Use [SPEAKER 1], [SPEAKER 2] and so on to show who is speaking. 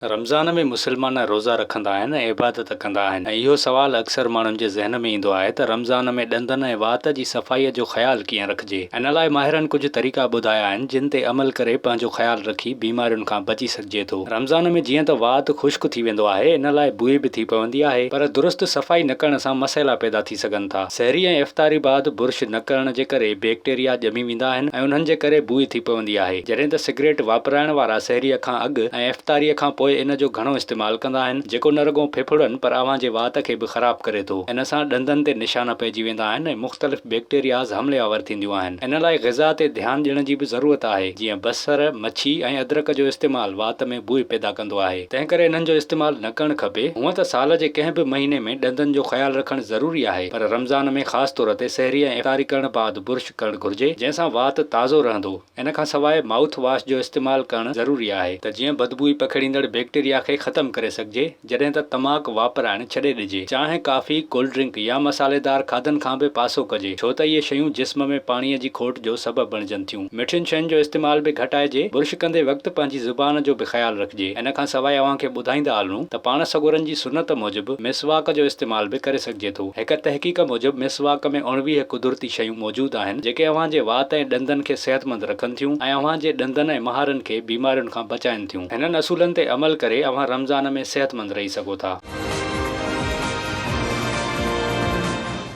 [SPEAKER 1] رمضان ۾ مسلمان روزا رکندا آهن ۽ عبادت ڪندا آهن ۽ اهو سوال اڪثر ماڻهن جي ذهن ۾ ايندو آهي ته رمضان ۾ ڏندن ۽ وات جي صفائيء جو خيال ڪيئن رکجي؟ ان لاء ماهرن ڪجهه طريقا ٻڌايا آهن جن تي عمل ڪري پنهنجو خيال رکي بيمارين کان بچي سگهجي ٿو. رمضان ۾ جيئن ته وات خشڪ ٿي ويندو آهي ان لاء بوئي به ٿي پوندي آهي پر درست صفائي نه ڪرڻ سان مسئلا پيدا ٿي ٿي سگهن ٿا. سحري ۽ افطاري بعد برش نه ڪرڻ جي ڪري بيڪٽيريا ڄمي ويندا آهن ۽ انهن جي ڪري بوء ٿي پوندي آهي. جڏهن ته سگريٽ واپرائڻ وارا سحري کان اڳ ۽ افطاري کان پوء ان جو گهڻو استعمال ڪندا آهن، جيڪو نه رڳو ڦڦڙن پر اوهان جي وات کي به خراب ڪري ٿو. ان سان ڏندن تي نشان پئجي ويندا آهن ۽ مختلف بيڪٽيرياز حملي آور ٿينديون آهن. ان لاء غذا تي ڌيان ڏيڻ جي به ضرورت آهي، جيئن بصر، مڇي ۽ ادرڪ جو استعمال وات ۾. بوء پيدا ڪندو آهي، تنهنڪري انهن جو استعمال نه ڪرڻ کپي. هونئن ته سال جي ڪنهن به مهيني ۾ ڏندن جو خيال رکڻ ضروري آهي، پر رمضان ۾ خاص طور تي سحري ۽ افطاري ڪرڻ بعد برش ڪرڻ گهرجي، جنهن سان وات تازو رهندو. ان کان سواء مائوٿ واش جو استعمال ڪرڻ ضروري آهي، ته جيئن بدبوئي پکيڙيندڙ بيڪٽيريا کي ختم ڪري سگهجي. جڏهن ته تماڪ واپرائڻ ڇڏي ڏجي. چانهه، ڪافي، ڪولڊ ڊرنڪ يا مصالحيدار کاڌن کان به پاسو ڪجي، ڇو ته اهي شيون جسم ۾ پاڻيء جي کوٽ جو سبب بڻجن ٿيون. مٺين شين جو استعمال به گهٽائجي. برش ڪندي وقت پنهنجي زبان جو به خيال رکجي. ان کان سواء اوهان کي ٻڌائيندا هلون ته پاڻ سڳورن جي سنت موجب مسواڪ جو استعمال به ڪري سگهجي ٿو. هڪ تحقيق موجب مسواڪ ۾ اڻويهه قدرتي شيون موجود آهن، جيڪي اوهان جي وات ۽ ڏندن کي صحتمند رکن ٿيون ۽ اوهان جي ڏندن ۽ مهارن کي بيمارين کان بچائين ٿيون. ڪن ٿيون. هنن اصولن تي عمل ڪري اوهان رمضان ۾ صحتمند رهي سگهو ٿا.